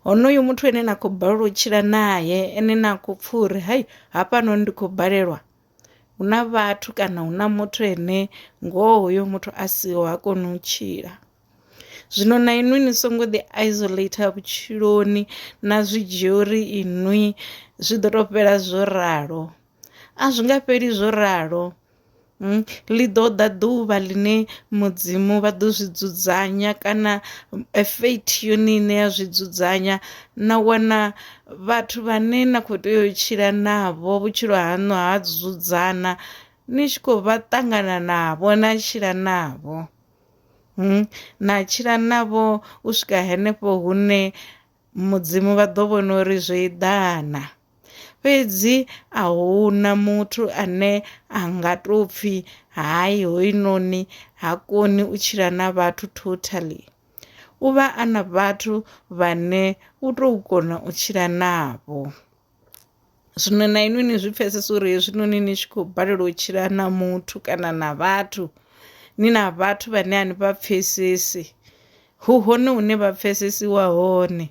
honoyo muthu ane na khou balelwa u tshila naye ene na khou pfha uri hai hafhanoni ndi khou balelwa hu na vhathu kana hu na muthu ane ngoho hoyo muthu a siho ha koni u tshila zwino na inwi ni songo ḓi isolator vhutshiloni na zwi dzhia uri inwi zwi ḓo to fhela zwo ralo a zwi nga fheli zwo ralo. Ḽi ḓo ḓa ḓuvha ḽine Mudzimu vha ḓo zwi dzudzanya kana fate yone ine ya zwi dzudzanya na wana vhathu vhane na kho tea u tshila navho vhutshilo haṋu ha dzudzana ni tshi khou vha ṱangana navho na tshila navho, na tshila navho u swika henefho hune Mudzimu vha ḓo vhona uri zwo eḓana. Fhedzi a hu na muthu ane a nga tou pfi hai hoyunoni ha koni u tshila na vhathu totally. U vha a na vhathu vhane u tou kona u tshila navho. Zwino na inwi ni zwi pfesesa uri hezwinoni ni tshi khou balelwa u tshila na muthu kana na vhathu ni na vhathu vhane a ni vha pfesesi hu hone hune vha pfesesiwa hone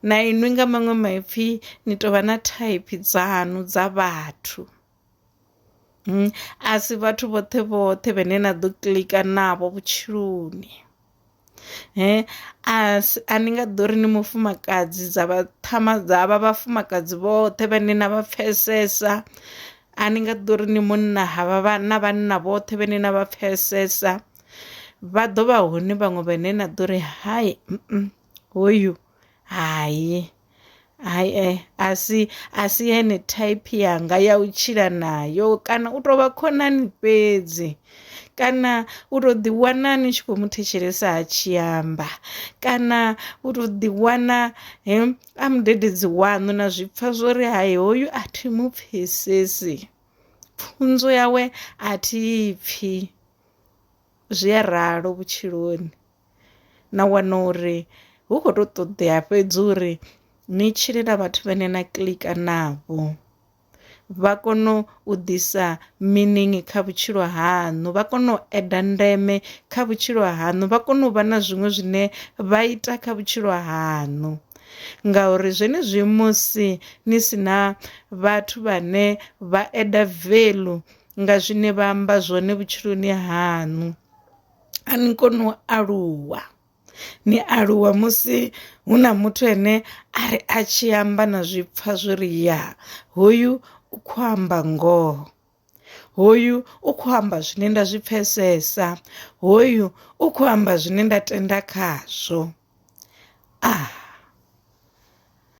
na inwi nga maṅwe maipfhi ni tovha na thaiphi dzanu dza vhathu. A si vhathu vhoṱhe vhoṱhe vhane na ḓo kiḽika navho vhutshiloni a ni nga ḓo ri ni mufumakadzi dza vha ṱhama dza vha vhafumakadzi vhoṱhe vhane na vha pfesesa, a ni nga ḓo ri ni munna ha vha vha na vhanna vhoṱhe vhane na vha pfesesa vha ḓo vha hone vhaṅwe vhane na ḓo ri hai hoyu. Hai, hai eh a si a si yone thaiphi yanga ya u tshila nayo kana u tou vha khonani fhedzi kana u to ḓi wana ni tshi khou mu thetshelesa a tshi amba kana u to ḓi wana he a mudededzi waṋu na zwi pfha zwori hai hoyu a thi mu pfhesesi pfunzo yawe a thi pfhi zwi a ralo vhutshiloni na wana uri hu kho to ṱoḓea fhedzi uri ni tshile na vhathu vhane na kiḽika navho vha kono u ḓisa meaning kha vhutshilo haṋu vha kono u eda ndeme kha vhutshilo haṋu vha kono u vha na zwiṅwe zwine vha ita kha vhutshilo haṋu ngauri zwenezwi musi ni si na vhathu vhane vha eda veḽu nga zwine vha amba zwone vhutshiloni haṋu a ni koni u aluwa ni aluwa musi hu na muthu ane a ri a tshi amba na zwi pfha zwi ri ya hoyu u kho amba ngoho hoyu u kho amba zwine nda zwi pfesesa hoyu u kho amba zwine nda tenda khazwo ah.